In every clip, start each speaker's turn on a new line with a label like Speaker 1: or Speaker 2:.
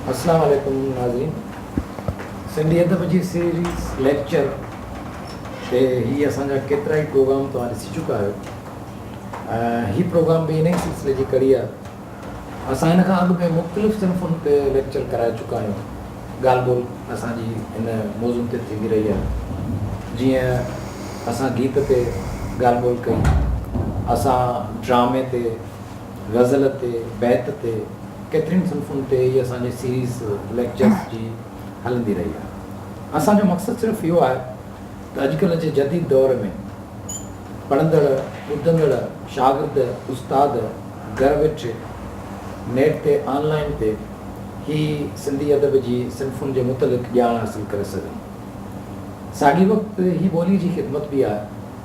Speaker 1: السلام عليڪم ناظرين سنڌي ادب جي سيريز ليڪچر تي هي اسان جا ڪيترا ئي پروگرام توهان ڏسي چڪا آهيو هي پروگرام به انهي سلسلي جي ڪڙي آهي اسان هن کان اڳ به مختلف صنفن تي ليڪچر ڪرائي چڪا آهيون. ڳالهه ٻولهه اسان جي هن موضوع تي ٿيندي رهي آهي. جيئن اسان گيت تي ڳالهه ٻولهه ڪئي، اسان ڊرامي تي، غزل تي، بيت تي، ڪيترين صنفن تي هي اسان جي سيريز ليڪچرز جي هلندي رهي آهي. اسان جو مقصد صرف اهو آهي ته اڄڪلهه جي جديد دور ۾. پڙهندڙ، ٻڌندڙ، شاگرد، استاد گهر ويٺ نيٽ تي آن لائين تي هي سنڌي ادب جي صنفن جي متعلق ڄاڻ حاصل ڪري سگهن. ساڳي وقت هي ٻولي جي خدمت به آهي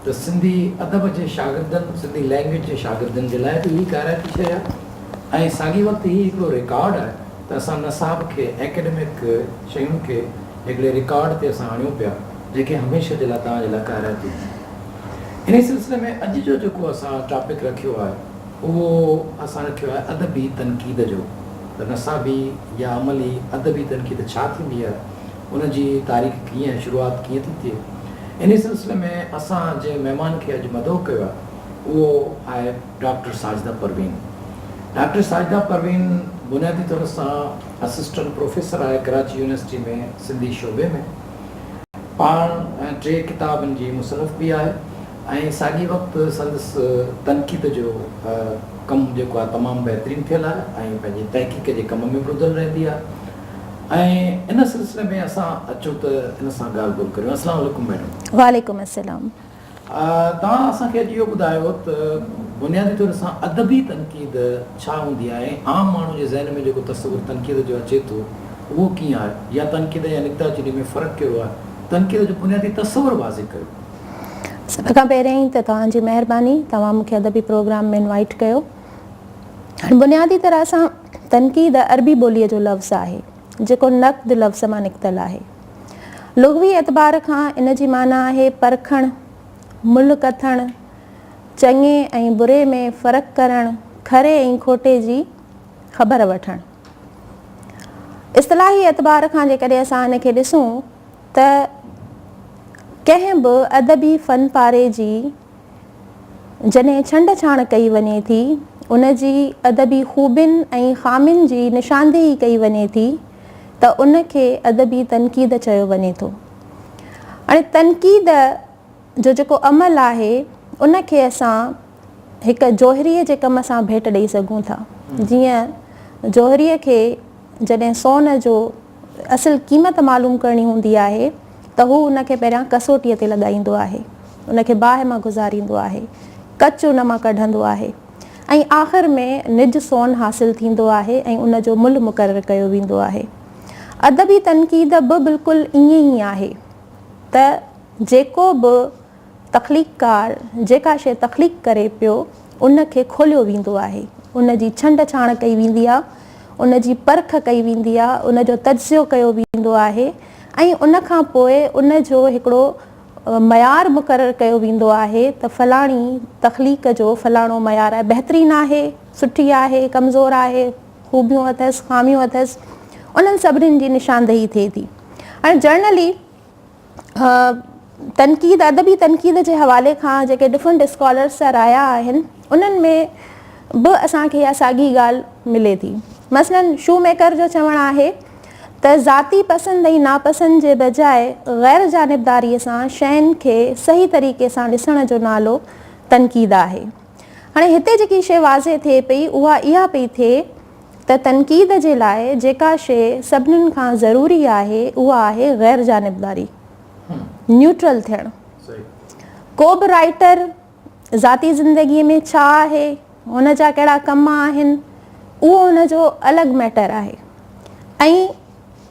Speaker 1: ته سنڌي ادب جي شاگردن، سنڌي لئنگئيج جي شاگردن جي لاء به هي ڪارائتي شيء آهي ۽ ساڳي وقت هي هڪڙو رڪارڊ آهي ته اسان نصاب کي، ايڪيڊمڪ شين کي، هڪڙي رڪارڊ تي اسان آڻيون پيا جيڪي هميشه جي لاء توهان جي لاء ڪارائپ ٿي وڃن. انهي سلسلي ۾ اڄ جو جيڪو اسان ٽاپڪ رکيو آهي اهو اسان رکيو آهي ادبي تنقيد جو ته نصابي يا عملي ادبي تنقيد ڇا ٿيندي آهي ان جي تاريخ ڪيئن ۽ شروعات ڪيئن ٿي ٿئي. انهي سلسلي ۾ اسان جنهن مهمان کي اڄ مدعو ڪيو آهي اهو آهي. ڊاڪٽر ساجده پروين ڊاڪٽر ساجده پروين بنيادي طور سان اسسٽنٽ پروفيسر آهي ڪراچي يونيورسٽي ۾ سنڌي شعبي ۾ پاڻ ٽي ڪتابن جي مصنف به آهي ۽ ساڳي وقت سندس تنقيد جو ڪم جيڪو آهي تمام بهترين ٿيل آهي ۽ پنهنجي تحقيق جي ڪم ۾ به ٻڌل رهندي آهي ۽ ان سلسلي ۾ اسان اچو ته ان سان ڳالهه ٻولهه ڪريون السلام عليڪم ميڊم وعليڪم السلام
Speaker 2: توهان
Speaker 1: اسان کي اڄ اهو ٻڌايو ته بنيادي طور سان ادبي تنقيد ڇا هوندي آهي ۽ عام ماڻهو جي ذهن ۾ جيڪو تصور تنقيد جو اچي ٿو اهو ڪيئن آهي يا تنقيد يا نڪته چيني ۾ فرق ڪهڙو آهي تنقيد جو بنيادي تصور واضح ڪيو. سڀ
Speaker 2: کان پهريائين ته توهان جي مهرباني توهان مونکي ادبي پروگرام ۾ انوائيٽ ڪيو. هاڻي بنيادي طرح سان تنقيد عربي ٻولي جو لفظ آهي. جيڪو نقد لفظ مان نڪتل آهي. لغوي اعتبار کان ان جي معنيٰ آهي پرکڻ، ملهه ڪٿڻ، چڱي ۽ بري ۾ فرق ڪرڻ، کري ۽ کوٽي جي خبر وٺڻ. اصطلاحي اعتبار کان جيڪڏهن اسان ان کي ڏسون ته ڪنهن به ادبي فن پاري جي جڏهن ڇنڊ ڇاڻ ڪئي وڃي ٿي، ان جي ادبي خوبين ۽ خامين جي نشاندهي ڪئي وڃي ٿي ته ان کي ادبي تنقيد چيو وڃي ٿو. اڻي تنقيد جو جيڪو عمل آهي، ان کي اسان هڪ جوهري جي ڪم سان ڀيٽ ڏئي سگهون ٿا. جيئن جوهري کي. جڏهن سون جو اصل قيمت معلوم ڪرڻي هوندي آهي ته هو ان کي پهريان ڪسوٽيء تي لڳائيندو آهي، ان کي باهه مان گذاريندو آهي، ڪچ ان مان ڪڍندو آهي ۽ آخر ۾ نج سون حاصل ٿيندو آهي ۽ ان جو ملهه مقرر ڪيو ويندو آهي. ادبي تنقيد به بلڪل ائين ئي آهي ته جيڪو به تخليقڪار جيڪا شيء تخليق ڪري پيو، ان کي کوليو ويندو آهي، ان جي ڇنڊ ڇاڻ ڪئي ويندي آهي، ان جي پرک ڪئي ويندي آهي، ان جو تجزيو ڪيو ويندو آهي ۽ ان کان پوء ان جو هڪڙو معيار مقرر ڪيو ويندو آهي ته فلاڻي تخليق جو فلاڻو معيار آهي، بهترين آهي، سٺي آهي، ڪمزور آهي، خوبيون اٿس، خاميون اٿس، انهن سڀني جي نشاندهي ٿئي ٿي. هاڻي جرنلي تنقيد، ادبي تنقيد جي حوالي کان جيڪي ڊفرنٽ اسڪالرس جا رايا آهن، انهن ۾ به اسان کي اها ساڳي ڳالهه ملي ٿي. مثلاً شو ميڪر جو چوڻ آهي ته ذاتي پسند ۽ ناپسند جي بجاء غير جانبداريء سان شين کي صحيح طريقي سان ڏسڻ جو نالو تنقيد آهي. هاڻي هتي جيڪي شيء واضح ٿئي پئي اها اها پئي ٿئي ته تنقيد جي لاء جيڪا شيء سڀنن کان ضروري آهي اها آهي غير جانبداري، نيوٽرل ٿيڻ. ڪو به رائيٽر ذاتي زندگي ۾ ڇا آهي، هن جا ڪهڙا ڪم آهن، اهو هن جو الڳ ميٽر آهي ۽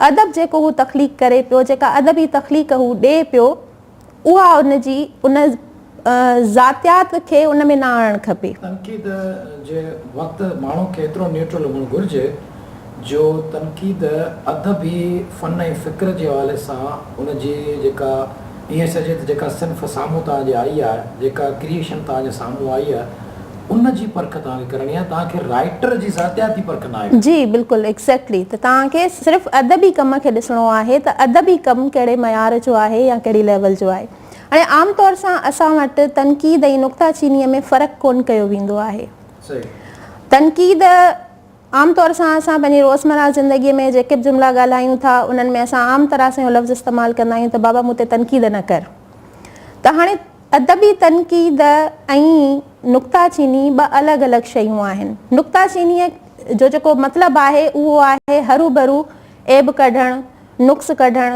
Speaker 2: ادب جيڪو هو تخليق ڪري پيو، جيڪا ادبي تخليق هو ڏئي پيو، اها ان جي ان ذاتيات کي ان ۾ نه آڻڻ کپي. تنقيد
Speaker 1: جي وقت ماڻهو کي ايترو نيوٽرل هئڻ گهرجي جو تنقيد ادبي فن ۽ فڪر جي حوالي سان ان جي جيڪا ائين چئجي ته جيڪا صنف سامهون توهان جي آئي آهي، جيڪا ڪريئيشن توهان جي سامهون آئي آهي، ان جي پرک توهان کي ڪرڻي آهي، توهان کي رائٽر جي ذاتياتي پرک ناهي ڪرڻي. جي بلڪل ايگزيڪٽلي
Speaker 2: ته توهان کي صرف ادبي ڪم کي ڏسڻو آهي ته ادبي ڪم ڪهڙي معيار جو آهي يا ڪهڙي ليول جو آهي اڻي عام طور سان اسان وٽ تنقيد ۽ نڪته چيني ۾ فرق ڪون ڪيو ويندو آهي صحيح. تنقيد. عام طور سان اسان پنهنجي روزمره زندگي ۾ جيڪي به جملا ڳالهايون ٿا انهن ۾ اسان عام طرح سان اهو لفظ استعمال ڪندا آهيون ته بابا مون تي تنقيد نه ڪر ته هاڻي ادبي تنقيد ۽ نڪته چيني ٻه الڳ الڳ شيون آهن. نڪته چينيء جو جيڪو مطلب آهي اهو آهي هروڀرو عيب ڪڍڻ، نقص ڪڍڻ،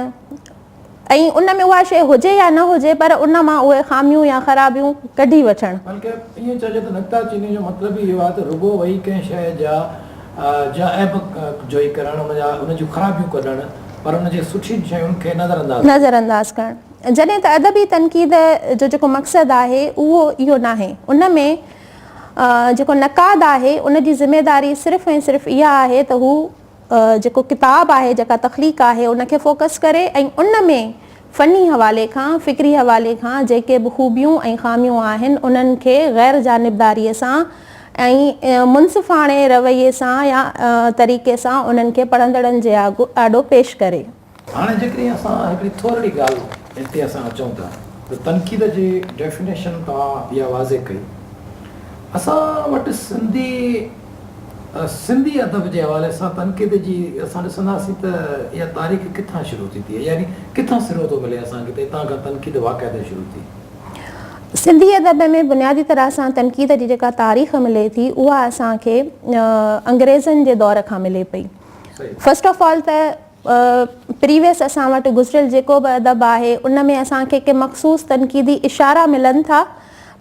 Speaker 2: ۽ ان ۾ اها شيء هجي يا نه هجي پر ان مان اهي خاميون يا خرابيون ڪڍي وٺڻ. بلڪه ائين چئجي
Speaker 1: ته نڪته چينيء جو مطلب ئي اهو آهي ته رڳو ويهي ڪنهن شيء جا جا عيب جوئي ڪرڻ، ان جا ان جون خرابيون ڪڍڻ پر ان جي سٺين شين کي نظر انداز ڪرڻ. نظر انداز ڪرڻ. جڏهن
Speaker 2: ته ادبي تنقيد جو جيڪو مقصد آهي اهو اهو ناهي. ان ۾ جيڪو نقاد آهي ان جي ذميداري صرف ۽ صرف اها آهي ته هو. جيڪو ڪتاب آهي، جيڪا تخليق آهي، ان کي فوڪس ڪري ۽ ان ۾ فني حوالي کان، فڪري حوالي کان جيڪي به خوبيون ۽ خاميون آهن، انهن کي غير جانبداريء سان ۽ منصفاڻي رويي سان يا طريقي سان انهن کي پڙهندڙن جي آڏو پيش ڪري. هاڻي جيڪڏهن
Speaker 1: اسان هڪڙي ٿورڙي ڳالهه هن تي اسان اچون ٿا ته تنقيد جي ڊيفينيشن توهان اها واضح ڪئي اسان وٽ سنڌي سنڌي ادب جي حوالي سان تنقيد جي اسان ڏسنداسين ته اها تاريخ ڪٿان شروع ٿي ٿئي يعني ڪٿان سرو ٿو ملي اسان کي ته هتان کان تنقيد واقعتا شروع ٿي. سنڌي
Speaker 2: ادب ۾ بنيادي طرح سان تنقيد جي جيڪا تاريخ ملي ٿي اها اسان کي انگريزن جي دور کان ملي پئي فرسٽ آف آل ته پريويس اسان وٽ گذريل جيڪو به ادب آهي ان ۾ اسان کي ڪي مخصوص تنقيدي اشارا ملن ٿا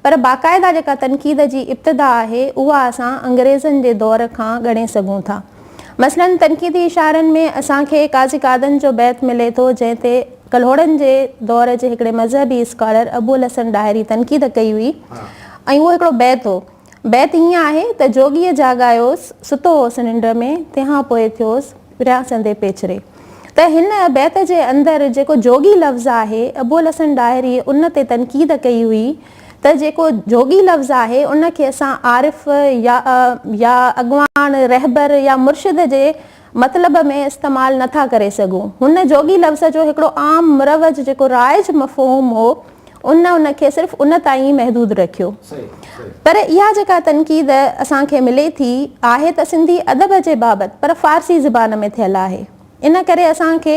Speaker 2: پر باقاعده جيڪا تنقيد جي ابتدا آهي اها اسان انگريزن جي دور کان ڳڻي سگهون ٿا مثلاً تنقيدي اشارن ۾ اسان کي قاضي قادن جو بيت ملي ٿو جنهن تي ڪلهوڙن جي دور جي هڪڙي مذهبي اسڪالر ابوالحسن ڏاهري تنقيد ڪئي هئي ۽ اهو هڪڙو بيت هو بيت هيئن آهي ته جوڳيء جاڳايوس، ستو هوس ننڊ ۾، تنهان پوء ٿيوس پريان سندي پيچري. ته هن بيت جي اندر جيڪو جوڳي لفظ آهي، ابوالحسن ڏاهريء ان تي تنقيد ڪئي هئي ته جيڪو جوڳي لفظ آهي، ان کي اسان عارف يا يا اڳواڻ، رهبر يا مرشد جي مطلب ۾ استعمال نه ٿا ڪري سگهون. هن جوڳي لفظ جو هڪڙو عام مروج جيڪو رائج مفهوم هو ان ان کي صرف ان تائين ئي محدود رکيو. پر اها جيڪا تنقيد اسان کي ملي ٿي آهي ته سنڌي ادب جي بابت پر فارسي زبان ۾ ٿيل آهي. ان ڪري اسان کي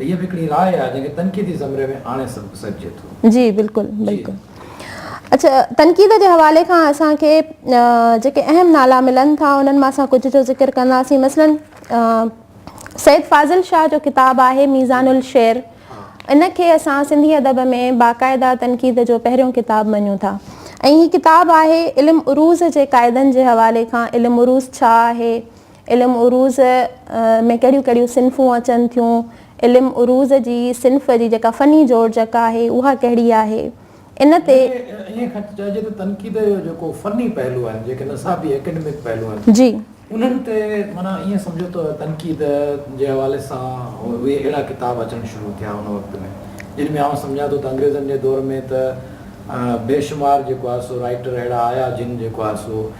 Speaker 1: هيء به هڪڙي راء آهي، جنهن کي تنقيدي زمري ۾ آڻي سگهجي ٿو. جي بلڪل بلڪل
Speaker 2: اڇا تنقيد جي حوالي کان اسان کي جيڪي اهم نالا ملن ٿا انهن مان اسان ڪجهه جو ذڪر ڪنداسين مثلا سيد فاضل شاهه جو ڪتاب آهي ميزان الشعر ان کي اسان سنڌي ادب ۾ باقاعده تنقيد جو پهريون ڪتاب مڃون ٿا ۽ هي ڪتاب آهي علم عروض جي قاعدن جي حوالي کان علم عروض ڇا آهي علم عروض ۾ ڪهڙيون ڪهڙيون صنفون اچن ٿيون؟ علم عروض جي صنف جي جيڪا فني جوڙجڪ آهي اها ڪهڙي آهي؟ ان تي. يعني ائين کڻجي چئجي
Speaker 1: ته تنقيد جو جيڪو فني پهلو آهن، جيڪي نصابي ايڪيڊمڪ پهلو آهن. جي. انهن تي معنيٰ ائين سمجهو ته تنقيد جي حوالي سان اهي اهڙا ڪتاب اچڻ شروع ٿيا ان وقت ۾ جن ۾ آئون سمجهان ٿو ته انگريزن جي دور ۾ ته بيشمار جيڪو آهي سو رائيٽر اهڙا آيا جن جيڪو آهي سو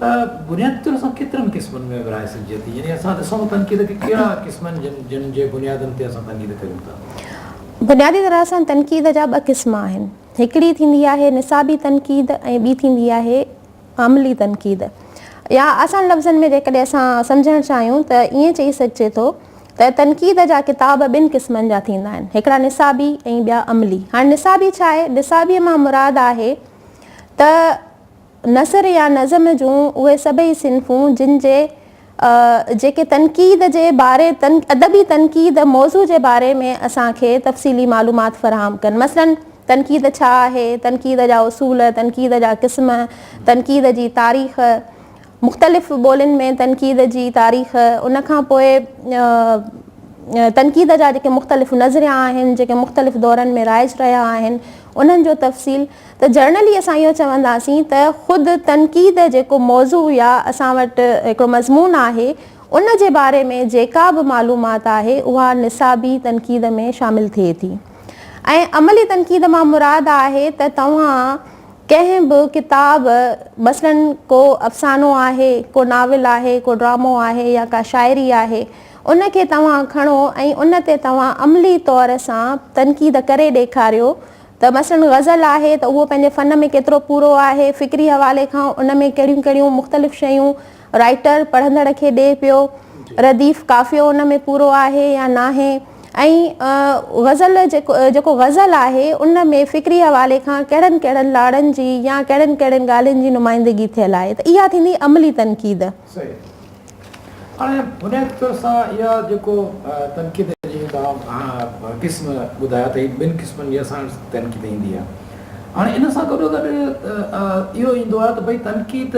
Speaker 1: ته بنيادي طور اسان ڪيترن قسمن ۾ ورهائي سگهجي ٿي يعني اسان ڏسون ته تنقيد کي ڪهڙا قسم آهن جن جن جي بنيادن تي اسان تنقيد ڪريون ٿا.
Speaker 2: بنيادي طرح سان تنقيد جا ٻه قسم آهن هڪڙي ٿيندي آهي نصابي تنقيد ۽ ٻي ٿيندي آهي عملي تنقيد يا آسان لفظن ۾ جيڪڏهن اسان سمجهڻ چاهيون ته ائين چئي سگهجي ٿو ته تنقيد جا ڪتاب ٻن قسمن جا ٿيندا آهن هڪڙا نصابي ۽ ٻيا عملي هاڻي نصابي ڇا آهي نصابي مان مراد آهي ته نثر يا نظم جون اهي سڀئي صنفون جن جي جيڪي تنقيد جي باري ادبي تنقيد موضوع جي باري ۾ اسان کي تفصيلي معلومات فراهم ڪن مثلاً تنقيد ڇا آهي، تنقيد جا اصول، تنقيد جا قسم، تنقيد جي تاريخ، مختلف ٻولين ۾ تنقيد جي تاريخ، ان کان پوء تنقيد جا جيڪي مختلف نظريا آهن جيڪي مختلف دورن ۾ رائج رهيا آهن انهن جو تفصيل. ته جرنلي اسان اهو چونداسين ته خود تنقيد جيڪو موضوع يا اسان وٽ هڪڙو مضمون آهي ان جي باري ۾ جيڪا به معلومات آهي اها نصابي تنقيد ۾ شامل ٿئي ٿي ۽ عملي تنقيد مان مراد آهي ته توهان ڪنهن به ڪتاب مثلاً ڪو افسانو آهي ڪو ناول آهي ڪو ڊرامو آهي يا ڪا شاعري آهي ان کي توهان کڻو ۽ ان تي توهان عملي طور سان تنقيد ڪري ڏيکاريو ته مثلاً غزل آهي ته اهو پنهنجي فن ۾ ڪيترو پورو آهي، فڪري حوالي کان ان ۾ ڪهڙيون ڪهڙيون مختلف شيون رائيٽر پڙهندڙ کي ڏئي پيو، رديف قافيو ان ۾ پورو آهي يا ناهي ۽ غزل جيڪو غزل آهي ان ۾ فڪري حوالي کان ڪهڙن ڪهڙن لاڙن جي يا ڪهڙين ڪهڙين ڳالهين جي نمائندگي ٿيل آهي ته اها ٿيندي عملي تنقيد. صحيح. هاڻي
Speaker 1: بنيادي طور سان اها جيڪو تنقيد جي توهان قسم ٻڌايا ته هي ٻن قسمن جي اسان وٽ تنقيد ايندي آهي. هاڻي ان سان گڏو گڏ اهو ايندو آهي ته ڀئي تنقيد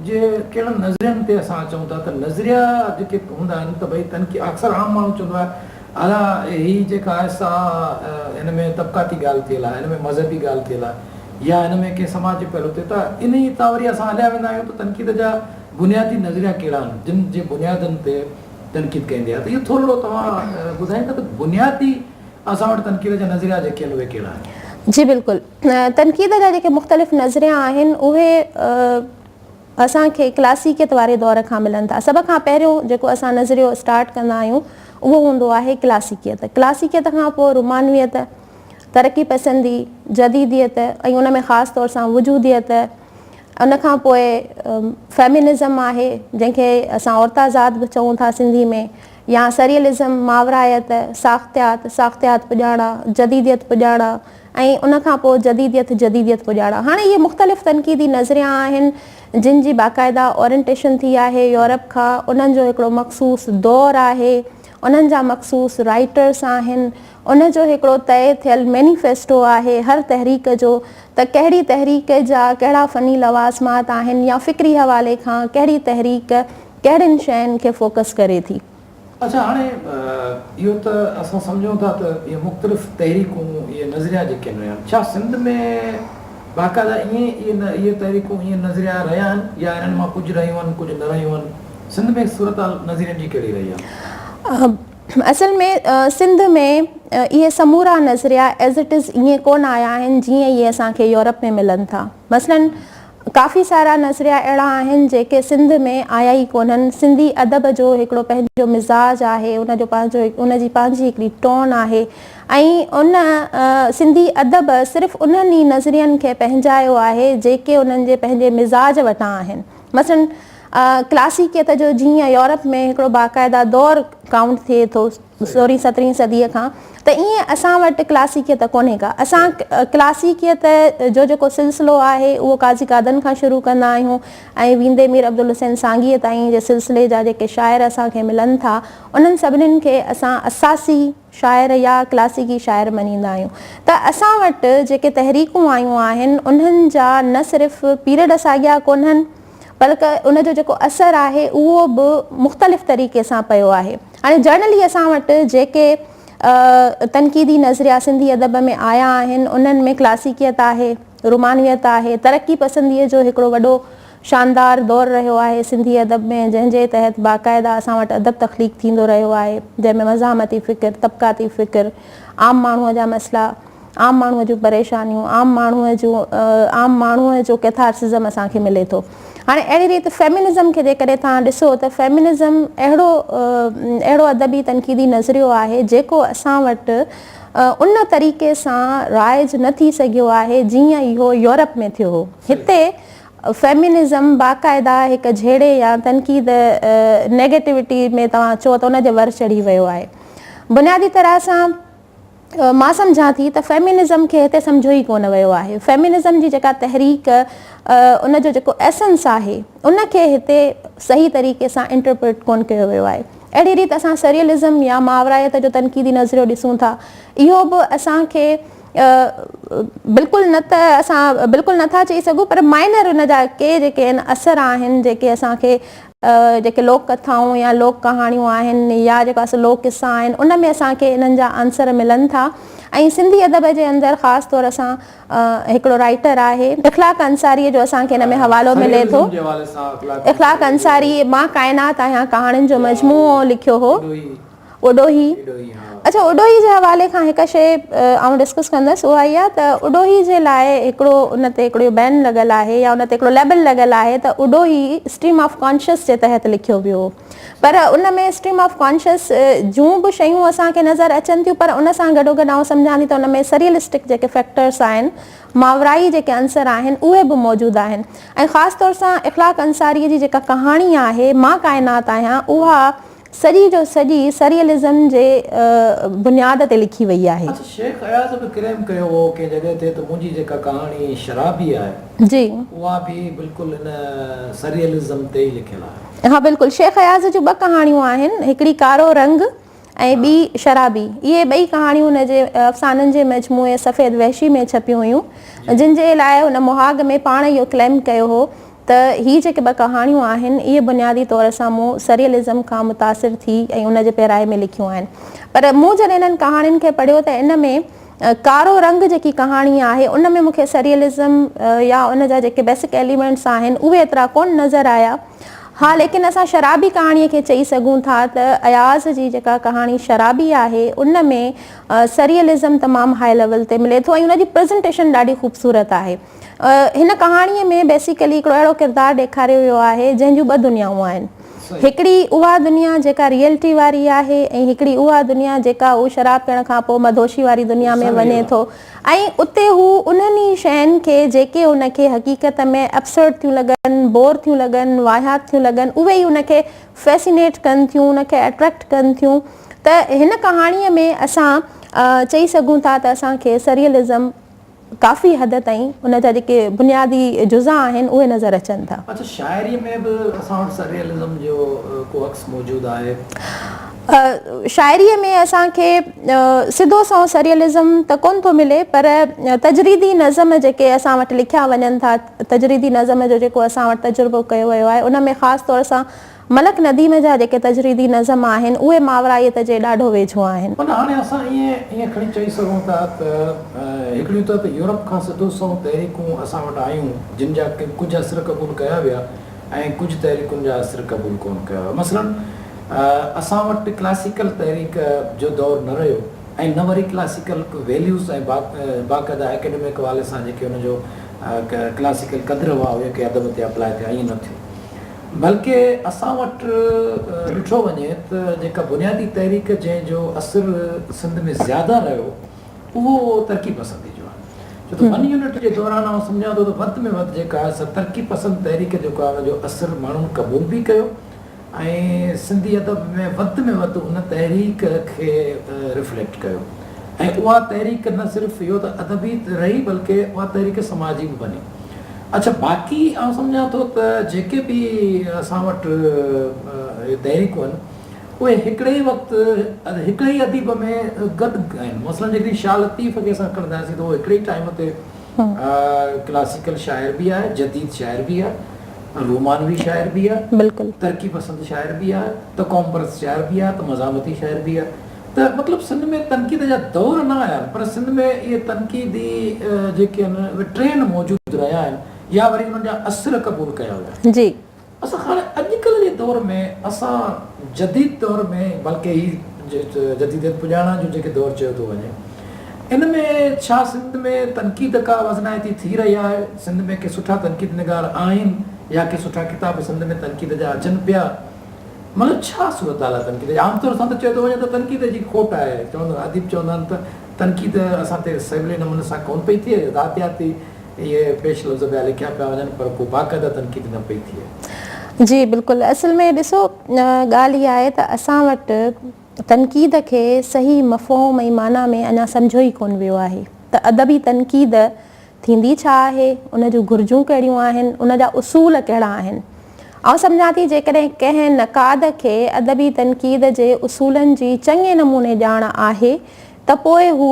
Speaker 1: جي ڪهڙن نظرين تي اسان چئون ٿا ته نظريا جيڪي هوندا آهن ته ڀئي تنقيد اڪثر عام ماڻهو چوندو آهي الا هي جيڪا آهي سا هن ۾ طبقاتي ڳالهه ٿيل آهي، هن ۾ مذهبي ڳالهه ٿيل آهي يا هن ۾ ڪنهن سماجي پهلو تي ته انهي تان وري اسان هليا ويندا آهيون ته تنقيد جا بنيادي نظريا ڪهڙا آهن جن جي بنيادن تي تنقيد ڪئي ويندي آهي ته اهو ٿورڙو توهان ٻڌائيندا ته بنيادي اسان وٽ تنقيد جا نظريا جيڪي آهن اهي ڪهڙا آهن؟ جي بلڪل
Speaker 2: تنقيد جا جيڪي مختلف نظريا آهن اهي اسان کي ڪلاسيڪيت واري دور کان ملن ٿا. سڀ کان پهريون جيڪو اسان نظريو اسٽارٽ ڪندا آهيون اهو هوندو آهي ڪلاسيڪيت. ڪلاسيڪيت کان پوء رومانويت، ترقي پسندي، جديديت ۽ ان ۾ خاص طور سان وجوديت ان کان پوء فيمينزم آهي جنهن کي اسان عورتازاد به چئون ٿا سنڌي ۾ يا سريئلزم، ماورائيت، ساختيات، ساختيات پڄاڻا، جديديت پڄاڻا، ۽ ان کان پوء جديديت، جديديت پڄاڙا. هاڻي اهي مختلف تنقيدي نظريا آهن، جن جي باقاعده اورينٽيشن ٿي آهي يورپ کان، انهن جو هڪڙو مخصوص دور آهي، انهن جا مخصوص رائيٽرس آهن، ان جو هڪڙو طئي ٿيل مينيفيسٽو آهي هر تحريڪ جو، ته ڪهڙي تحريڪ جا ڪهڙا فني لوازمات آهن يا فڪري حوالي کان ڪهڙي تحريڪ ڪهڙين شين کي فوڪس ڪري ٿي. اڇا هاڻي
Speaker 1: اهو ته اسان سمجهون ٿا ته اهي مختلف تحريڪون اهي نظريا جيڪي هيون آهن ڇا سنڌ ۾ باقاعده ائين اهي تحريڪون اهي نظريا رهيا آهن يا انهن مان ڪجهه رهيون آهن ڪجهه نه رهيون آهن سنڌ ۾ صورتحال نظرين جي ڪهڙي رهي آهي؟ اصل ۾
Speaker 2: سنڌ ۾ اهي سمورا نظريا ايز اٽ از ائين ڪونه آيا آهن جيئن اهي اسان کي يورپ ۾ ملن ٿا مثلاً ڪافي سارا نظريا اهڙا آهن جيڪي سنڌ ۾ آيا ئي ڪونهن. سنڌي ادب جو هڪڙو پنهنجو مزاج آهي، ان جو پنهنجو ان جي پنهنجي هڪڙي ٽون آهي ۽ ان سنڌي ادب صرف انهن ئي نظرين کي پنهنجايو آهي جيڪي انهن جي پنهنجي مزاج وٽان آهن. مثلاً ڪلاسيڪيت جو جيئن يورپ ۾ هڪڙو باقاعده دور ڪائونٽ ٿئي ٿو، سورهين سترهين صديء کان ته ائين اسان وٽ ڪلاسيڪيت ڪونهي ڪا. اسان ڪلاسيڪيت جو جيڪو سلسلو آهي اهو قاضي قادن کان شروع ڪندا آهيون ۽ ويندي مير عبدالحسين سانگيء تائين جي سلسلي جا جيڪي شاعر اسان کي ملن ٿا انهن سڀنين کي اسان اساسي شاعر يا ڪلاسيڪي شاعر مڃيندا آهيون ته اسان وٽ جيڪي تحريڪون آيون آهن انهن جا نه صرف پيرڊ ساڳيا ڪونهن بلڪ ان جو جيڪو اثر آهي اهو به مختلف طريقي سان پيو آهي. هاڻي جرنلي اسان وٽ جيڪي تنقيدي نظريا سنڌي ادب ۾ آيا آهن انهن ۾ ڪلاسيڪيت آهي، رومانويت آهي، ترقي پسنديء جو هڪڙو وڏو شاندار دور رهيو آهي سنڌي ادب ۾ جنهن جي تحت باقاعده اسان وٽ ادب تخليق ٿيندو رهيو آهي جنهن ۾ مزاحمتي فڪر، طبقاتي فڪر، عام ماڻهوء جا مسئلا، عام ماڻهوء جون پريشانيون، عام ماڻهوء جون عام ماڻهوء جو ڪيٿارسزم اسان کي ملي ٿو. هاڻي اهڙي ريت فيمينزم کي جيڪڏهن توهان ڏسو ته فيمينزم اهڙو اهڙو ادبي تنقيدي نظريو آهي جيڪو اسان وٽ ان طريقي سان رائج نه ٿي سگهيو آهي جيئن اهو يورپ ۾ ٿيو هو. هتي فيمينزم باقاعده هڪ جهيڙي يا تنقيد Negativity ۾ توهان چئو ته ان جي ور چڙهي ويو آهي. بنيادي طرح سان. مان سمجهان ٿي ته فيمينزم کي هتي سمجهيو ئي ڪونه ويو آهي. فيمينزم جي جيڪا تحريڪ ان جو جيڪو ايسنس آهي ان کي هتي صحيح طريقي سان انٽرپريٽ ڪونه ڪيو ويو آهي. اهڙي ريت اسان سريئلزم يا ماورائيت جو تنقيدي نظريو ڏسون ٿا اهو به اسان کي بلڪل نه ته اسان بلڪل نه ٿا چئي سگهون پر مائنر ان جا ڪي جيڪي اثر آهن جيڪي اسان کي جيڪي لوڪ ڪٿائون يا لوڪ ڪهاڻيون آهن يا جيڪا اسان لوڪ قصا آهن ان ۾ اسان کي انهن جا عنصر ملن ٿا ۽ سنڌي ادب جي اندر خاص طور سان هڪڙو رائيٽر آهي اخلاق انصاري جو اسان کي ان ۾ حوالو ملي ٿو اخلاق انصاري مان ڪائنات آهيان ڪهاڻين جو مجموعو لکيو هو. اوڏوهي اڇا اوڏوهي جي حوالي کان هڪ شي آئون ڊسڪس ڪندس اها اهي آهي ته اوڏوهي جي لاء هڪڙو ان تي هڪڙو بين لڳل آهي يا ان تي هڪڙو ليبل لڳل آهي ته اوڏوهي اسٽريم آف ڪانشس جي تحت لکيو ويو پر ان ۾ اسٽريم آف ڪانشس جون به شيون اسان کي نظر اچن ٿيون پر ان سان گڏو گڏ آئون سمجهان ٿي ته ان ۾ سريلسٽڪ جيڪي فيڪٽرس آهن ماورائي جيڪي عنصر آهن اهي به موجود آهن ۽ خاص طور سان اخلاق انصاري جي جيڪا ڪهاڻي آهي مان ڪائنات آهيان اها سڄي جو سڄي سريئلزم جي بنياد تي لکي وئي آهي. اچ شيخ اياز به
Speaker 1: ڪليم ڪيو هو ڪنهن جڳهه تي ته منهنجي جيڪا ڪهاڻي شرابي آهي جي. اها به
Speaker 2: بلڪل
Speaker 1: ان سريئلزم تي ئي لکيل آهي. ها بلڪل. شيخ اياز
Speaker 2: جون ٻه ڪهاڻيون آهن، هڪڙي ڪارو رنگ ۽ ٻي شرابي. اهي ٻئي ڪهاڻيون هن جي افسانن جي مجموعي سفيد وحشي ۾ ڇپيون هيون، جن جي لاء هن مهاڳ ۾ پاڻ اهو ڪليم ڪيو هو ته هي جيڪي ٻه ڪهاڻيون آهن، اهي بنيادي طور سان مون سريئلزم کان متاثر ٿي ۽ ان جي پيرائي ۾ لکيون آهن. پر مون جڏهن انهن ڪهاڻين کي پڙهيو ته ان ۾ ڪارو رنگ جيڪي ڪهاڻي آهي، ان ۾ مون کي سريئلزم يا ان جا جيڪي بيسڪ ايليمينٽس آهن، اهي ايترا ڪونه نظر آيا. ها ليڪن اسان شرابي ڪهاڻيء کي چئي سگهون ٿا ته اياز جي جيڪا ڪهاڻي شرابي آهي، ان ۾ سريئلزم تمام هاء ليول تي ملي ٿو ۽ ان جي پريزنٽيشن ڏاڍي خوبصورت آهي. هن ڪهاڻيء ۾ بيسيڪلي هڪڙو اهڙو ڪردار ڏيکاريو ويو آهي جنهن جون ٻه دنيائون آهن. هڪڙي اها دنيا جيڪا ريئلٽي واري آهي ۽ هڪڙي اها دنيا جيڪا هو شراب پيئڻ کان پوء مدهوشي واري دنيا ۾ وڃي ٿو ۽ اتي هو انهن ئي شين کي جيڪي هن کي حقيقت ۾ ابسرڊ ٿيون لڳن، بور ٿيون لڳن، واهيات ٿيون لڳن اهي ئي هن کي فيسينيٽ ڪن ٿيون، هن کي اٽريڪٽ ڪن ٿيون ته هن ڪهاڻيء ۾ اسان چئي سگهون ٿا ته اسان کي سريئلزم. ڪافي حد تائين ان جا جيڪي بنيادي جزا آهن اهي نظر اچن ٿا. اڇا شاعري ۾ به
Speaker 1: اسان وٽ سرريئلزم جو ڪو عڪس موجود آهي؟ شاعري
Speaker 2: ۾ اسان کي سڌو سنئون سرريئلزم ته ڪونه ٿو ملي پر تجريدي نظم جيڪي اسان وٽ لکيا وڃن ٿا تجريدي نظم جو جيڪو اسان وٽ تجربو ڪيو ويو آهي ان ۾ خاص طور سان ملڪ نديم جا جيڪي تجريدي نظم آهن، اهي ماورائيت جي ڏاڍو ويجهو آهن. معنيٰ هاڻي اسان
Speaker 1: ائين ائين کڻي چئي سگهون ٿا ته هڪڙيون ته ته يورپ کان سڌو سنئون تحريڪون اسان وٽ آيون، جن جا ڪجهه اثر قبول ڪيا ويا ۽ ڪجهه تحريڪن جا اثر قبول ڪونه ڪيا ويا. مثلاً اسان وٽ ڪلاسيڪل تحريڪ جو دور نه رهيو ۽ نه وري ڪلاسيڪل ويليوز ۽ باقاعده اڪيڊمڪ حوالي سان جيڪي ان جو ڪلاسيڪل قدر هئا، اهي ڪي ادب تي اپلاء ٿيا، ائين نه ٿيو. بلڪه اسان وٽ ڏٺو وڃي ته جيڪا بنيادي تحريڪ جنهن جو اثر سنڌ ۾ زياده رهيو اهو ترقي پسندي جو آهي ڇو ته ون يونٽ جي دوران آئون سمجهان ٿو ته وڌ ۾ وڌ جيڪا آهي سا ترقي پسند تحريڪ جيڪو آهي ان جو اثر ماڻهن قبول به ڪيو ۽ سنڌي ادب ۾ وڌ ۾ وڌ ان تحريڪ کي رفليڪٽ ڪيو ۽ اها تحريڪ نه صرف اهو ته ادبي رهي بلڪه اها تحريڪ سماجي به بني اڇا باقي آئون سمجهان ٿو ته جيڪي به اسان وٽ اهي تحريڪون آهن اهي هڪڙي ئي وقت هڪڙي ئي اديب ۾ گڏ آهن مثلا جيڪڏهن شاهه لطيف کي اسان کڻنداسين ته اهو هڪڙي ئي ٽائيم تي ڪلاسيڪل شاعر به آهي جديد شاعر به آهي رومانوي شاعر به آهي ترقي پسند
Speaker 2: شاعر
Speaker 1: به آهي ته قوم پرست شاعر به آهي ته مزاحمتي شاعر به آهي ته مطلب سنڌ ۾ تنقيد جا دور نه آيا آهن پر سنڌ ۾ اهي تنقيدي جيڪي آهن اهي ٽرينڊ موجود رهيا آهن يا وري انهن جا اثر قبول ڪيا ويا آهن جي اسان هاڻي اڄ ڪلهه جي دور ۾ اسان جديد دور ۾ بلڪه هي جديديت پڄاڻان جو جيڪي دور چيو ٿو وڃي ان ۾ ڇا سنڌ ۾ تنقيد ڪا وزنائتي ٿي رهي آهي سنڌ ۾ ڪي سٺا تنقيد نگار آهن يا ڪي سٺا ڪتاب سنڌ ۾ تنقيد جا اچن پيا مطلب ڇا صورتحال آهي تنقيد جي؟ عام طور سان ته چيو ٿو وڃي ته تنقيد جي کوٽ آهي، چوندا اديب چوندا آهن ته تنقيد اسان تي سولي نموني سان ڪونه پئي ٿئي، ذاتياتي اهي پيش لفظ پيا لکيا پيا وڃن پر ڪو باقاعده تنقيد نه پئي ٿئي. جي بلڪل، اصل
Speaker 2: ۾ ڏسو ڳالهه اها آهي ته اسان وٽ تنقيد کي صحيح مفهوم ۽ معنيٰ ۾ اڃا سمجهيو ئي ڪونه ويو آهي ته ادبي تنقيد ٿيندي ڇا آهي، ان جون گهرجون ڪهڙيون آهن، ان جا اصول ڪهڙا آهن. آئون سمجهان ٿي جيڪڏهن ڪنهن نقاد کي ادبي تنقيد جي اصولن جي چڱي نموني ڄاڻ آهي ته پوء هو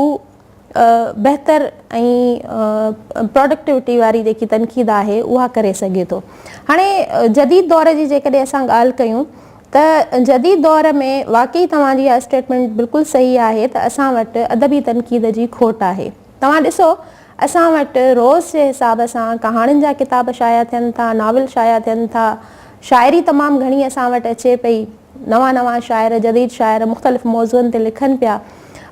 Speaker 2: بهتر ۽ پراڊڪٽوٽي واري جيڪي تنقيد آهي اها ڪري سگهي ٿو. هاڻي جديد دور جي جيڪڏهن اسان ڳالهه ڪيون ته جديد دور ۾ واقعي توهان جي اها اسٽيٽمينٽ بلڪل صحيح آهي ته اسان وٽ ادبي تنقيد جي کوٽ آهي. توهان ڏسو اسان وٽ روز جي حساب سان ڪهاڻين جا ڪتاب شايع ٿين ٿا، ناول شايع ٿين ٿا، شاعري تمام گهڻي اسان وٽ اچي پئي، نوان نوان شاعر، جديد شاعر مختلف موضوعن تي لکن پيا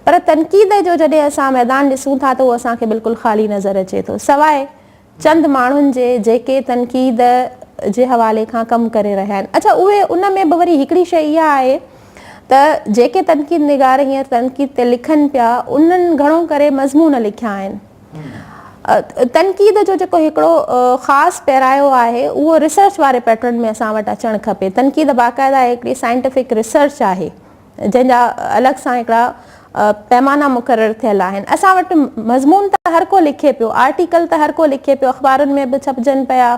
Speaker 2: پر تنقيد جو جڏهن اسان ميدان ڏسون ٿا ته اهو اسان کي بلڪل خالي نظر اچي ٿو سواء چند ماڻهن جي جيڪي تنقيد جي حوالي کان ڪم ڪري رهيا آهن اڇا اهي ان ۾ به وري هڪڙي شيء اها آهي ته جيڪي تنقيد نگار هينئر تنقيد تي لکن پيا انهن گهڻو ڪري مضمون لکيا آهن تنقيد جو جيڪو هڪڙو خاص پيرايو آهي اهو ريسرچ واري پيٽرن ۾ اسان وٽ اچڻ کپي تنقيد باقاعده هڪڙي سائنٽيفڪ ريسرچ آهي جنهن جا الڳ سان هڪڙا پيمانا مقرر ٿيل آهن. اسان وٽ مضمون ته هر ڪو لکي پيو، آرٽيڪل ته هر ڪو لکي پيو، اخبارن ۾ به ڇپجن پيا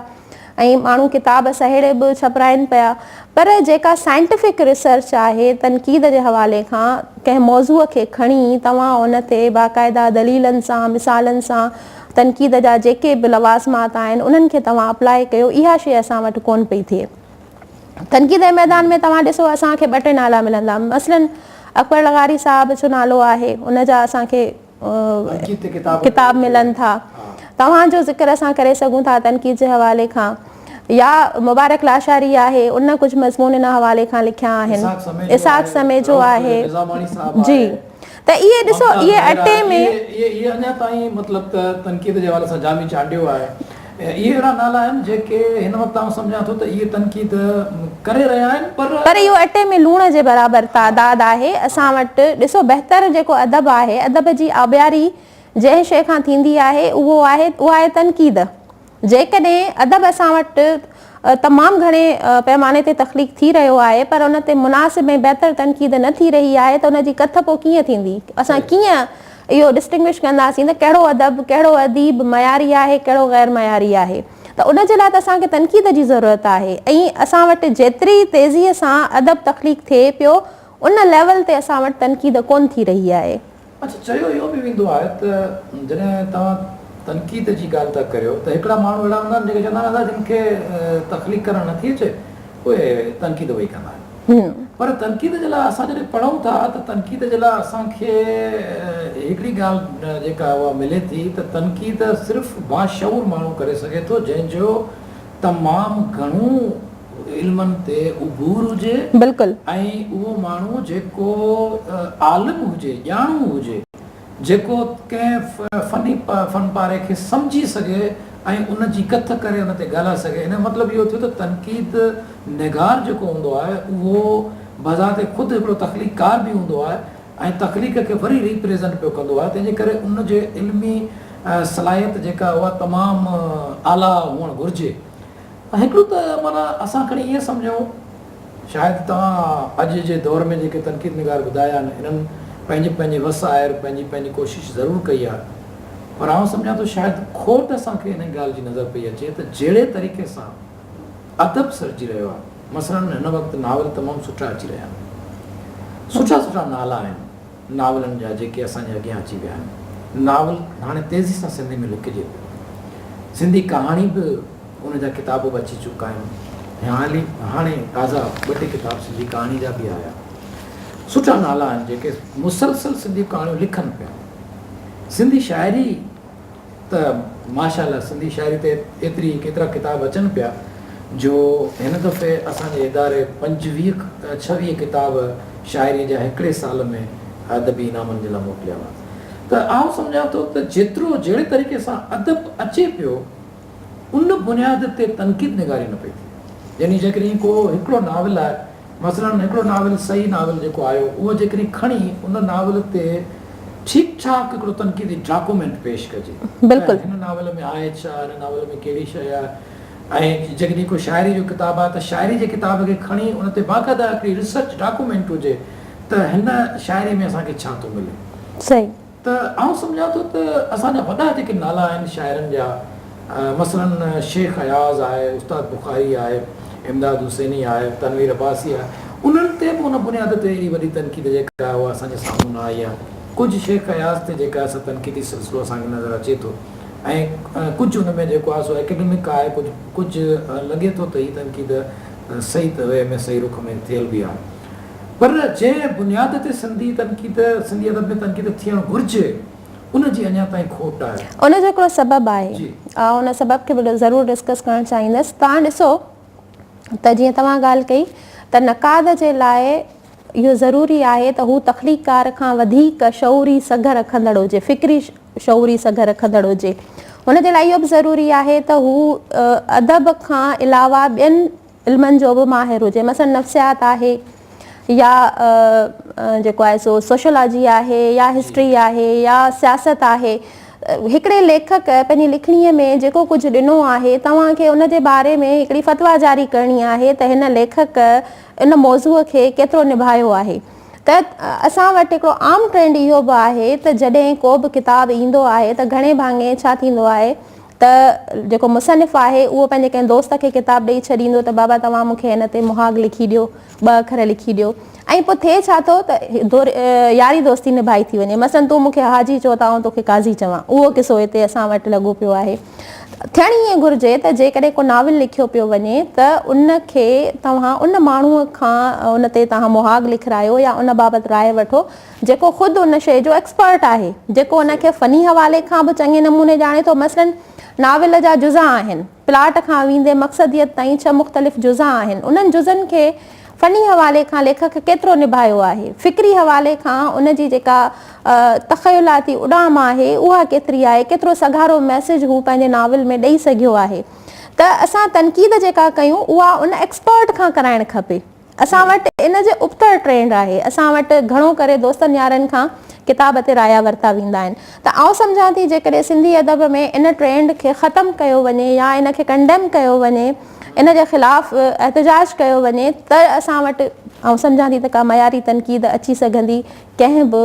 Speaker 2: ۽ ماڻهو ڪتاب سهيڙي به ڇپرائين پيا پر جيڪا سائنٽفڪ ريسرچ آهي تنقيد جي حوالي کان ڪنهن موضوع کي کڻي توهان ان تي باقاعده دليلن سان مثالن سان تنقيد جا جيڪي به لوازمات آهن انهن کي توهان اپلائي ڪيو اها شيء اسان وٽ ڪونه پئي ٿئي. تنقيد جي ميدان ۾ توهان ڏسو اسان کي ٻه ٽي نالا ملندا مثلاً اڪبر لغاري صاحب جو نالو آهي ان جا اسان کي ڪتاب ملن ٿا توهان جو ذڪر اسان ڪري سگهون ٿا تنقيد جي حوالي کان يا مبارڪ لاشاري آهي ان ڪجهه مضمون ان حوالي کان لکيا آهن اسحاق سميجو آهي جي ته اهي ڏسو اهي اٽي ۾. اهي اڃا تائين
Speaker 1: مطلب ته تنقيد جي حوالي سان جامي چانڊيو آهي. اهي اهڙا نالا آهن جيڪي هن وقت آئون سمجهان ٿو ته اهي تنقيد ڪري رهيا آهن پر. پر اهو اٽي ۾ لوڻ جي
Speaker 2: برابر تعداد آهي اسان وٽ. ڏسو بهتر جيڪو ادب آهي ادب جي آبياري جنهن شيء کان ٿيندي آهي اهو آهي اها آهي تنقيد. جيڪڏهن ادب اسان وٽ تمام گهڻي پيماني تي تخليق ٿي رهيو آهي پر ان تي مناسب ۽ بهتر تنقيد نه ٿي رهي آهي ته ان جي ڪٿ پوء ڪيئن ٿيندي؟ اسان ڪيئن اهو Distinguish ڪنداسين ته ڪهڙو ادب، ڪهڙو اديب معياري آهي، ڪهڙو غير معياري آهي؟ ته ان جي لاء ته اسان کي تنقيد جي ضرورت آهي ۽ اسان وٽ جيتري تيزيء سان ادب تخليق ٿئي پيو ان ليول تي اسان وٽ تنقيد ڪون ٿي رهي آهي. اچ چيو اهو
Speaker 1: به ويندو آهي ته جڏهن توهان تنقيد جي ڳالهه ٿا ڪريو ته هڪڙا ماڻهو اهڙا هوندا آهن جيڪي چوندا هوندا جن کي تخليق ڪرڻ نٿي اچي اهي تنقيد اهي ئي ڪندا آهن پر تنقيد جي لاء اسان جڏهن پڙهون ٿا ته تنقيد جي لاء اسان کي هڪڙي ڳالهه جيڪا اها ملي ٿي ته تنقيد صرف باشعور ماڻهو ڪري سگهي ٿو جنهن جو تمام گهڻو علمن تي عبور هجي بلڪل. ۽
Speaker 2: اهو ماڻهو
Speaker 1: جيڪو عالم هجي ڄاڻو هجي جيڪو ڪنهن فني فن پاري کي سمجهي سگهي ۽ ان جي ڪٿ ڪري ان تي ڳالهائي سگهي ان جو مطلب اهو ٿيو ته تنقيد نگار جيڪو هوندو آهي اهو بذات خود هڪڙو تخليق ڪار به هوندو آهي ۽ تخليق کي وري ريپريزنٽ پيو ڪندو آهي تنهنجي ڪري ان جي علمي صلاحيت جيڪا اها تمام اعليٰ هئڻ گهرجي هڪڙو ته معنيٰ اسان کڻي ائين سمجهون، شايد توهان اڄ جي دور ۾ جيڪي تنقيد نگار ٻڌايا آهن، انهن پنهنجي پنهنجي وس آهر پنهنجي پنهنجي ڪوشش ضرور ڪئي آهي، پر آئون سمجهان ٿو شايد کوٽ اسان کي انهيء ڳالهه جي نظر پئي اچي ته جهڙي طريقي سان ادب سرجي رهيو آهي، مثلاً هن وقت ناول تمام سٺا اچي رهيا آهن، سٺا سٺا نالا آهن. ناولن جا جيڪي اسان جي اڳيان اچي ويا آهن. ناول هاڻي تيزي سان سنڌي ۾ لکجي پيو. سنڌي ڪهاڻي به ان جا ڪتاب به اچي چڪا آهن. هيانئلي هاڻي تازا ٻه ٽي ڪتاب سنڌي ڪهاڻي جا به آيا. سٺا نالا آهن جيڪي مسلسل سنڌي ڪهاڻيون لکن پيا. سنڌي شاعري ته ماشاء الله سنڌي شاعري تي ايتري ايترا ڪتاب اچن پيا جو هن دفعي اسان جي اداري پنجويهه کان ڇويهه ڪتاب شاعري جا هڪڙي سال ۾ ادبي انعامن جي لاء موڪليا هئا ته آئون سمجهان ٿو ته جيترو جهڙي طريقي سان ادب اچي پيو ان بنياد تي تنقيد نگاري نه پئي ٿئي. يعني جيڪڏهن ڪو هڪڙو ناول آهي، مثلاً هڪڙو ناول صحيح ناول جيڪو آيو، اهو جيڪڏهن کڻي ان ناول تي ٺيڪ ٺاڪ هڪڙو تنقيدي ڊاڪومينٽ پيش ڪجي ته هن ناول
Speaker 2: ۾ آهي
Speaker 1: ڇا، هن ناول ۾ ڪهڙي شيء آهي ۽ جيڪڏهن ڪو شاعري جو ڪتاب آهي ته شاعري جي ڪتاب کي کڻي ان تي باقاعده هڪڙي ريسرچ ڊاڪومينٽ هجي ته هن شاعري ۾ اسان کي ڇا ٿو ملي. ته
Speaker 2: آئون سمجهان
Speaker 1: ٿو ته اسان جا وڏا جيڪي نالا آهن شاعرن جا مثلاً شيخ اياز آهي، استاد بخاري آهي، امداد حسيني آهي، تنوير عباسي آهي، انهن تي به ان بنياد تي ايڏي وڏي تنقيد جيڪا آهي اها اسان جي سامهون نه آئي آهي. ڪجهه شيخ اياز تي جيڪا آهي سا تنقيدي سلسلو اسان کي نظر اچي ٿو ۽ ڪجهه ان ۾ جيڪو آهي سو اڪيڊمڪ آهي ڪجهه ڪجهه لڳي ٿو ته هي تنقيد صحيح وي ۾ صحيح رخ ۾ ٿيل به آهي. پر جنهن بنياد تي سنڌي تنقيد، سنڌي ادب ۾ تنقيد ٿيڻ گهرجي، ان جي اڃا تائين کوٽ آهي. ان جو هڪڙو سبب
Speaker 2: آهي. آئون ان سبب کي به ضرور ڊسڪس ڪرڻ چاهيندس. توهان ڏسو ته جيئن توهان ڳالهه ڪئي ته نقاد جي لاء اهو ضروري آهي ته هو تخليقڪار کان وڌيڪ شعوري سگهه رکندڙ هجي، فڪري شعوري سگهه رکندڙ هجي. ان جي لاء اهو به ضروري آهي ته هو ادب کان علاوه ٻين علمن جو به ماهر هجي مثلاً نفسيات آهي يا جيڪو آهي سو سوشيولاجي آهي يا هسٽري آهي يا سياست آهي هڪڙي ليکڪ پنهنجي لکڻي ۾ جيڪو ڪجهه ڏنو آهي توهان کي ان جي باري ۾ هڪڙي فتويٰ جاري ڪرڻي آهي ته هن ليکڪ ان موضوع کي ڪيترو نڀايو آهي ته اسان وٽ هڪڙو عام ٽرينڊ اهو به آهي ته جڏهن ڪو به ڪتاب ايندو آهي ته گهڻي ڀاڱي ڇا ٿيندو آهي ته جيڪو مصنف آهي اهو پنهنجي ڪنهن دوست کي ڪتاب ڏئي ڇڏيندو ته بابا توهان مون کي هن تي مهاڳ لکي ڏيو، ٻه اکر لکي ڏيو ۽ پوء ٿئي ڇا ٿو ته ياري دوستي نڀائي ٿي وڃي. مثلاً تون مون کي حاجي چئو ته آئون تو کي قاضي چوان. اهو قصو هتي اسان وٽ لڳو پيو آهي. ٿيڻ ائين گهرجي ته جيڪڏهن ڪو ناول لکيو پيو وڃي ته ان کي توهان ان ماڻهوء کان ان تي توهان مهاڳ لکرايو يا ان بابت راء وٺو جيڪو خود ان شيء جو ايڪسپرٽ آهي، جيڪو ان کي فني حوالي کان به چڱي نموني ڄاڻي ٿو، مثلاً ناول جا جزا آهن، پلاٽ کان ويندي مقصديت تائين ڇهه مختلف جزا آهن، انهن جزن کي فني حوالي کان ليکڪ ڪيترو نڀايو آهي، فڪري حوالي کان ان جي جيڪا تخيلاتي اڏام آهي، اها ڪيتري آهي، ڪيترو سگهارو ميسيج هو پنهنجي ناول ۾ ڏئي سگهيو آهي، ته اسان تنقيد جيڪا ڪيون، اها ان ايڪسپرٽ کان ڪرائڻ کپي. اسان وٽ ان جي ابتڙ ٽرينڊ آهي. اسان وٽ گهڻو ڪري دوستن يارن کان ڪتاب تي رايا ورتا ويندا آهن ته آئون سمجهان ٿي جيڪڏهن سنڌي ادب ۾ ان ٽرينڊ کي ختم ڪيو وڃي يا ان کي ڪنڊيم ڪيو وڃي ان جي خلاف احتجاج ڪيو وڃي ته اسان وٽ آئون سمجهان ٿي ته ڪا معياري تنقيد اچي سگهندي ڪنهن به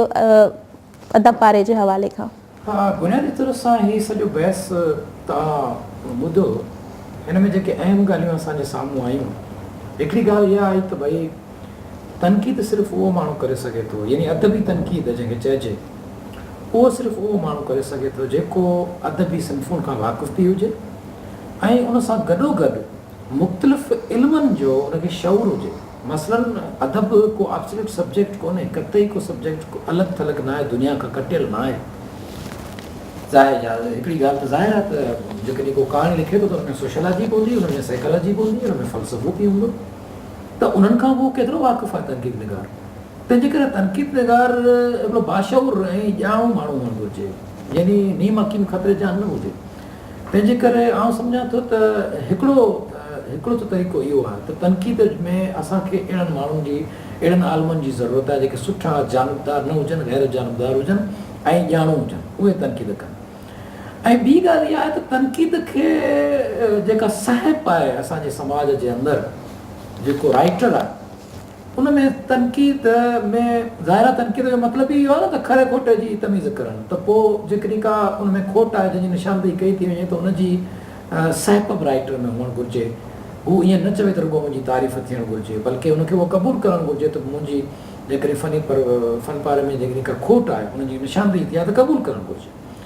Speaker 2: ادب پاري جي حوالي کان. ها بنيادي طور
Speaker 1: سان هي سڄو بحث توهان ٻڌو هن ۾ جيڪي اهم ڳالهيون اسان جي سامهون آيون هڪڙي ڳالهه اها آئي ته ڀئي تنقيد صرف اهو ماڻهو ڪري سگهي ٿو يعني ادبي تنقيد جنهن کي چئجي اهو صرف اهو ماڻهو ڪري سگهي ٿو جيڪو ادبي صنفن کان واقف به هجي ۽ ان سان گڏوگڏ مختلف علمن جو ان کي شعور هجي. مثلاً ادب ڪو آبسلوٽ سبجيڪٽ ڪونهي، قطعي ڪو سبجيڪٽ ڪو الڳ ٿلڳ ناهي، دنيا کان ڪٽيل ناهي. ظاهر جا هڪڙي ڳالهه ته ظاهر آهي ته جيڪڏهن ڪو ڪهاڻي لکي ٿو ته ان ۾ سوشيالاجي به هوندي، ان ۾ سائيڪالاجي به هوندي، ان ۾ فلسفو به هوندو ته انهن کان اهو ڪيترو واقف آهي تنقيد نگار؟ تنهنجي ڪري تنقيد نگار هڪڙو باشعور ۽ ڄاڻو ماڻهو هئڻ گهرجي يعني نيم حڪيم خطري جان نه هجي. تنهنجي ڪري آئون سمجهان ٿو ته هڪڙو هڪڙو ته طريقو اهو آهي ته تنقيد ۾ اسان کي اهڙن ماڻهن جي، اهڙن عالمن جي ضرورت آهي جيڪي سٺا جانبدار نه هجن، غير جانبدار هجن ۽ ڄاڻو هجن، اهي تنقيد ڪن. ۽ ٻي ڳالهه اها آهي ته تنقيد کي جيڪا سهپ آهي اسان جي سماج جي اندر جيڪو رائٽر آهي. ان ۾ تنقيد ۾ ظاهر آهي تنقيد جو مطلب ئي اهو آهي نه ته کري کوٽي جي تميز ڪرڻ ته پوء جيڪڏهن ڪا ان ۾ کوٽ آهي جنهن جي نشاندهي ڪئي ٿي وڃي ته ان جي سهپ به رائيٽر ۾ هئڻ گهرجي هو ائين نه چوي ته رڳو منهنجي تعريف ٿيڻ گهرجي بلڪه ان کي اهو قبول ڪرڻ گهرجي ته منهنجي جيڪڏهن فني فن پاري ۾ جيڪڏهن ڪا کوٽ آهي ان جي نشاندهي ٿي آهي ته قبول ڪرڻ گهرجي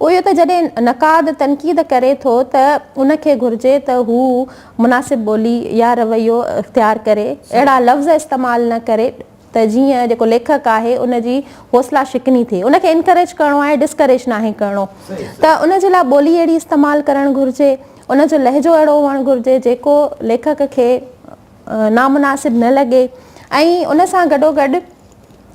Speaker 2: اهو ته جڏهن نقاد تنقيد ڪري ٿو ته ان کي گهرجي ته هو مناسب ٻولي يا رويو اختيار ڪري، اهڙا لفظ استعمال نه ڪري ته جيئن جيڪو ليکڪ آهي ان جي حوصلا شڪني ٿئي. ان کي انڪريج ڪرڻو آهي ڊسڪريج ناهي ڪرڻو. ته ان جي لاء ٻولي اهڙي استعمال ڪرڻ گهرجي، ان جو لهجو اهڙو هئڻ گهرجي جيڪو ليکڪ کي نامناسب نه لڳي ۽ ان سان گڏوگڏ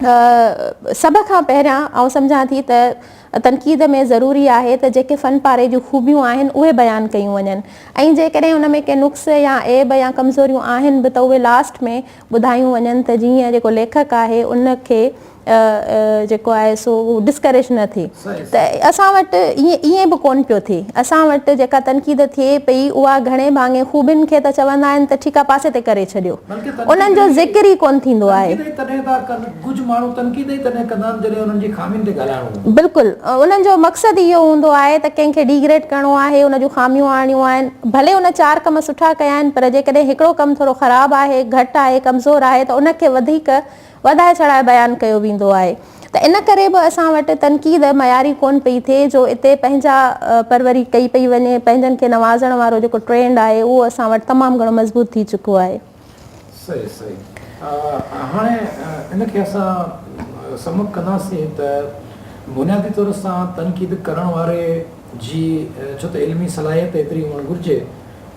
Speaker 2: سڀ کان پهريان آئون سمجهان ٿي ته تنقيد ۾ ضروري آهي ته جيڪي فن پاري جون خوبيون آهن اهي بيان ڪيون وڃن ۽ جيڪڏهن ان ۾ ڪي نقص يا عيب يا ڪمزوريون آهن به ته اهي لاسٽ ۾ ٻڌايون وڃن ته جيئن جيڪو ليکڪ آهي ان کي جيڪو آهي سو ڊسڪريج نه ٿئي. ته اسان وٽ ائين به ڪونه پيو ٿئي. اسان وٽ جيڪا تنقيد ٿئي پئي اها گهڻي ڀاڱي خوبين کي ته چوندا آهن ته ٺيڪ آهي پاسي تي ڪري ڇڏيو. انهن جو ذڪر ئي ڪونه ٿيندو آهي. بلڪل انهن جو مقصد ئي اهو هوندو آهي ته ڪنهن کي ڊيگريڊ ڪرڻو آهي ان جون خاميون آڻڻيون آهن. ڀلي هن چار ڪم سٺا ڪيا آهن پر جيڪڏهن هڪڙو ڪم ٿورو خراب آهي، گهٽ آهي، ڪمزور آهي ته ان کي وڌيڪ وڌائي چڙهائي بيان ڪيو ويندو آهي ته ان ڪري به اسان وٽ تنقيد معياري ڪونه پئي ٿئي جو اتي پنهنجا پروري ڪئي پئي وڃي پنهنجن کي نوازڻ وارو جيڪو ٽرينڊ آهي اهو اسان وٽ تمام گهڻو مضبوط ٿي چڪو آهي. صحيح
Speaker 1: صحيح هاڻي ان کي اسان سم اپ ڪنداسين ته بنيادي طور سان تنقيد ڪرڻ واري جي ڇو ته علمي صلاحيت ايتري هئڻ گهرجي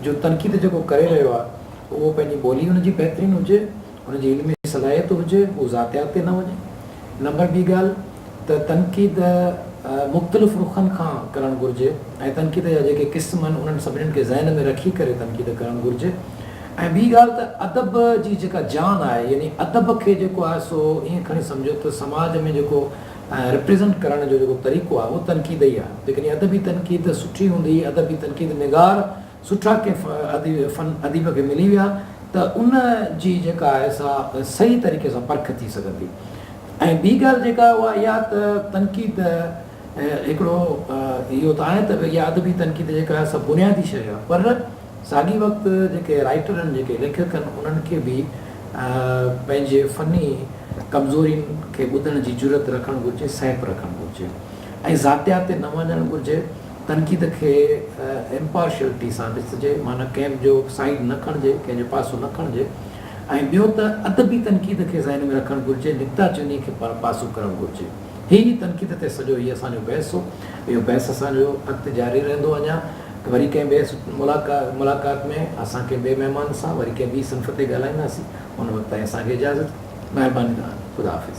Speaker 1: جو تنقيد جيڪو ڪري رهيو آهي اهو پنهنجي ٻولي ان جي بهترين هجي هن جي علمي صلاحيت هجي، هو ذاتيات تي نه وڃي. نمبر ٻي ڳالهه ته تنقيد مختلف رخن کان ڪرڻ گهرجي ۽ تنقيد جا جيڪي قسم آهن انهن سڀني کي ذهن ۾ رکي ڪري تنقيد ڪرڻ گهرجي ۽ ٻي ڳالهه ته ادب جي جيڪا جان آهي يعني ادب کي جيڪو آهي سو ائين کڻي سمجهو ته سماج ۾ جيڪو ريپريزنٽ ڪرڻ جو جيڪو طريقو آهي اهو تنقيد ئي آهي جيڪڏهن ادبي تنقيد سٺي هوندي ادبي تنقيد نگار سٺا ڪنهن فن اديب کي ملي ويا ته ان جي جيڪا آهي سا صحيح طريقي سان پرک ٿي سگهندي ۽ ٻي ڳالهه جيڪا اها اها ته تنقيد هڪڙو اهو ته آهي ته اها ادبي تنقيد جيڪا آهي سا بنيادي شيء آهي پر ساڳي وقت جيڪي رائيٽر آهن جيڪي ليکڪ آهن انهن کي به پنهنجي فني ڪمزورين کي ٻڌڻ جي جرئت رکڻ گهرجي سهپ رکڻ گهرجي ۽ ذاتيات تي نه وڃڻ گهرجي تنقيد کي امپارشلٽي سان ڏسجي، معنيٰ ڪنهن جو سائيڊ نه کڻجي، ڪنهن جو پاسو نه کڻجي ۽ ٻيو ته ادبي تنقيد کي ذهن ۾ رکڻ گهرجي، نڪته چيني کي پر پاسو ڪرڻ گهرجي. هي ئي تنقيد تي سڄو هي اسان جو بحث هو. اهو بحث اسان جو اڳتي جاري رهندو اڃا وري ڪنهن ٻئي ملاقات ۾ اسان ڪنهن ٻئي مهمان سان وري ڪنهن ٻي صنف تي ڳالهائينداسين. ان وقت تائين اسان کي اجازت. مهرباني تهان جي. خدا حافظ.